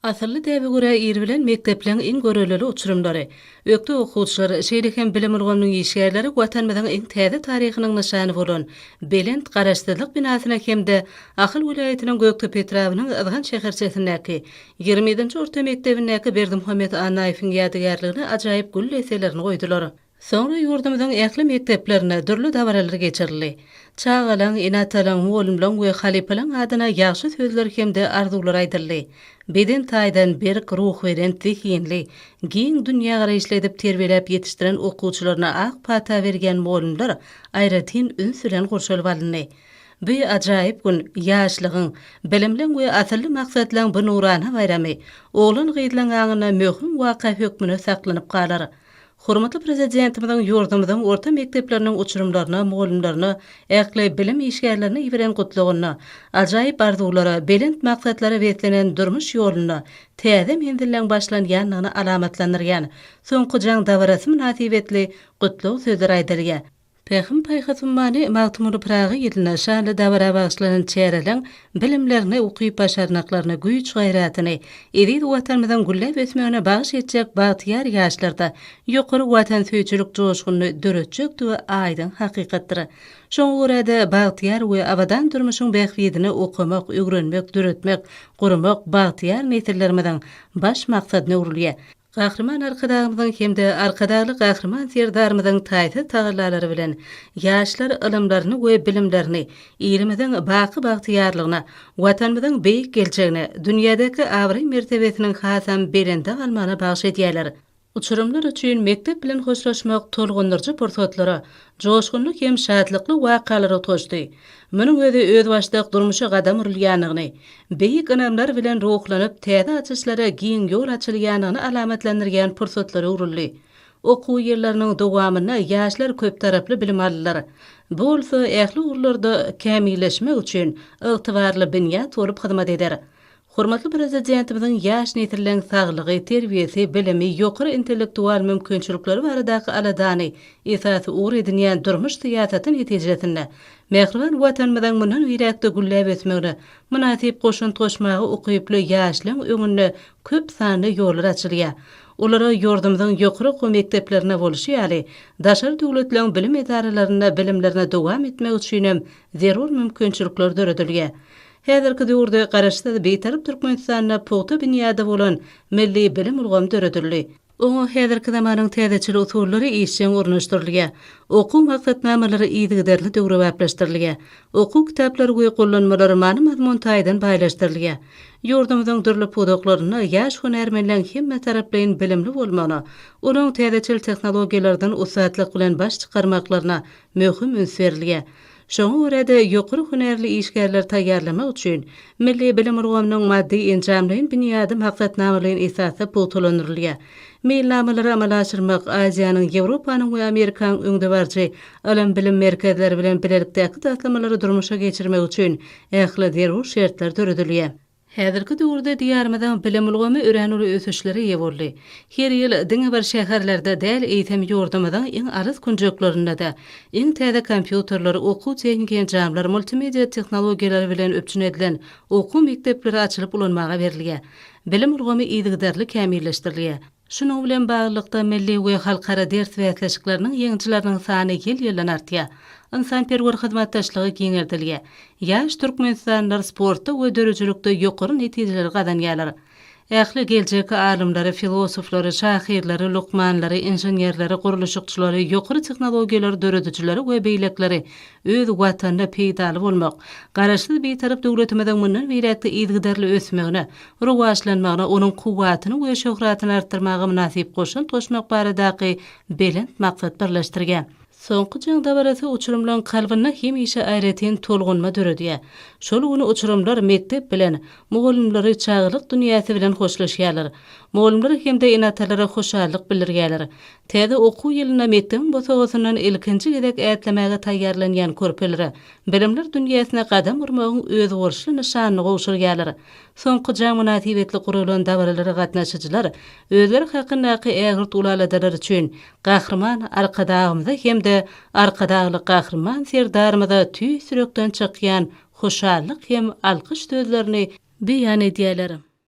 Asylly däbe görä ir bilen mekdepleriň iň görellili uçurymlary, ökde okuwçylar, şeýle hem bilim ulgamynyň işgärleri Watanymyzyň iň täze taryhynyň nyşany bolan belent Garaşsyzlyk binasyna hem-de Ahal welaýatynyň Gökdepe etrabynyň Yzgant şäherçesindäki ýigrimi ýedinji orta mekdebindäki Berdimuhamet Annaýewiň ýadygärligine ajaýyp gül deselerini goýdular. Soňra ýurdumyzyň ähli mekdeplerinde dürli dabaralar geçirildi. Çagalaň, ene-atalaň, mugallymlaň we halypalaň adyna ýagşy sözler hem-de arzuwlar aýdyldy. Beden taýdan berk, ruhubelent, zehinli, giň dünýägaraýyşly edip terbiýeläp ýetişdiren okuwçylaryna ak pata berýän mugallymlar aýratyn üns bilen gurşalyp alyndy. Bu ajaýyp gün ýaşlygyň, bilimliň we asylly maksatlaryň bu nurana baýramy oglan-gyzlaň aňynda möhüm waka hökmünde saklanyp galar. Hormatly Prezidentimiziň ýurdumyzyň orta mekdepleriniň uçurymlaryna, mugallymlaryna, ähli bilim işgärlerine iberen Gutlagynda ajaýyp arzuwlara, belent maksatlara beslenen durmuş ýolunda täze menzilleň başlanýandygyny alamatlandyrýan soňky jaň dabarasy mynasybetli gutlag sözleri aýdylýar. Pähim-paýhas ummany Magtymguly Pyragy ýylyna şanly dabara bagyşlanan çäreleň bilimlerini, ukyp-başarnyklaryny, güýç-gaýratyny eziz Watanymyzyň gülläp ösmegine bagyş etjek bagtyýar ýaşlarda ýokary watansöýüjilik joşgunyny döretjekdigi aýdyň hakykatdyr. Şoňa görä-de, bagtyýar we abadan durmuşyň bähbidine okamak, öwrenmek, döretmek, gurmak bagtyýar nesillerimiziň baş maksadyna öwrülýär. Gahryman Arkadagymyzyň hem-de Arkadagly Gahryman Serdarymyzyň taýsyz tagallalary bilen ýaşlar ylymlaryny we bilimlerini ilimiziň baky bagtyýarlygyna, Watanymyzyň beýik geljegine, dünýädäki abraý-mertebesiniň hasam belende galmagyna bagyş edýärler. Uçurymlar üçin mekdep bilen hoşlaşmak tolgundyryjy pursatlara, joşgunly hem şatlykly wakalar utgaşdy. Munuň özi özbaşdak durmuşa gadam urulýandygyny, beýik ynamlar bilen ruhlanyp, täze açyşlara giň ýol açylýandygyny alamatlandyrýan pursatlara öwrüldi. Okuw ýyllarynyň dowamynda ýaşlar köptaraply bilim aldylar. Bu bolsa ähli ugurlarda kämilleşmek üçin ygtybarly binýat bolup hyzmat eder. Hormatly Prezidentimiziň ýaş nesilleriň saglygy, terbiýesi, bilimi, ýokary intellektual mümkinçilikleri baradaky aladany esasy ugur edinýän durmuş syýasaty netijesinde, mähriban Watanymyzyň mundan beýläk-de gülläp ösmegine mynasyp goşant goşmaga ukyply ýaşlaryň öňünde köp sanly ýollar açylýar. Olara ýurdumyzyň ýokary okuw mekdeplerinde bolşy ýaly, daşary döwletleriň bilim edaralarynda bilimlerini dowam etmek üçinem zerur mümkinçilikler döredilýär. Häzirki döwürde Garaşsyz, Bitarap Türkmenistanda pugta binýady bolan milli bilim ulgamy döredildi. Oňa häzirki zamanyň täzeçil usullary işjeň ornaşdyrylýar. Okuw maksatnamalary yzygiderli döwrebaplaşdyrylýar. Okuw kitaplary we gollanmalar many-mazmun taýdan baýlaşdyrylýar. Ýurdumyzyň dürli pudaklarynda ýaş hünärmenleň hemmetaraplaýyn bilimli bolmagyna, olaryň täzeçil tehnologiýalardan ussatlyk bilen baş çykarmaklaryna möhüm üns berilýär. Şoňa görä-de, ýokary hünärli işgärleri taýýarlamak üçin milli bilim ulgamynyň maddy-enjamlaýyn binýady maksatnamalaýyn esasda pugtalandyrylýar. Meýilnamalary amala aşyrmak Aziýanyň, Ýewropanyň we Amerikanyň öňdebaryjy ylym-bilim merkezleri bilen bilelikdäki taslamalary durmuşa geçirmek üçin ähli zerur şertler döredilýär. Häzirki döwürde Diýarymyzyň bilim ulgamy örän uly ösüşlere eýe boldy. Her ýyl diňe bir şäherlerde däl, eýsem, ýurdumyzyň iň alys künjeklerinde-de iň täze kompýuterler, okuw-tehniki enjamlar, multimedia tehnologiýalary bilen üpjün edilen okuw mekdepleri açylyp ulanmaga berilýär. Bilim ulgamy yzygiderli kämilleşdirilýär. Şunuň bilen baglylykda, milli we halkara ders bäsleşikleriniň ýeňijileriniň sany ýyl-ýyldan artýar, ynsanperwer hyzmatdaşlygy giňeldilýär, ýaş türkmenistanlylar sportda we döredijilikde ýokary netijeleri gazanýarlar. Ähli geljek alymlary, filosoflary, şahyrlary, lukmanlary, inženerleri, gurluşykçylary, ýokary tehnologiýalary döredijileri we beýlekileri öz Watanyna peýdaly bolmak, Garaşsyz Bitarap döwletimiziň mundan beýläk-de yzygiderli ösmegine, rowaçlanmagyna, onuň kuwwatyny we şöhratyny artdyrmaga mynasyp goşant goşmak baradaky belent maksat birleşdirýär. Soňky jaň dabarasy uçurymlaryň kalbynda hemişe aýratyn tolgunma döredýär. Şol gün uçurymlar mekdep bilen, mugallymlary çagalyk dünýäsi bilen hoşlaşýarlar. Mugallymlar hem-de ene-atalara hoşallyk bildirýärler. Täze okuw ýylynda mekdebiň bosagasyndan ilkinji gezek ätlemäge taýýarlanýan körpelere bilimler dünýäsine gadam urmagyň özboluşly nyşanyny gowşurýarlar. Soňky jaň mynasybetli guralan dabaralara gatnaşyjylar özleri hakyndaky ägirt ulaladalary üçin Gahryman Arkadagymyza hem-de Arkadagly Gahryman Serdarymyza tüýs ýürekden çykýan hoşallyk hem alkyş sözlerini beýan edýärler.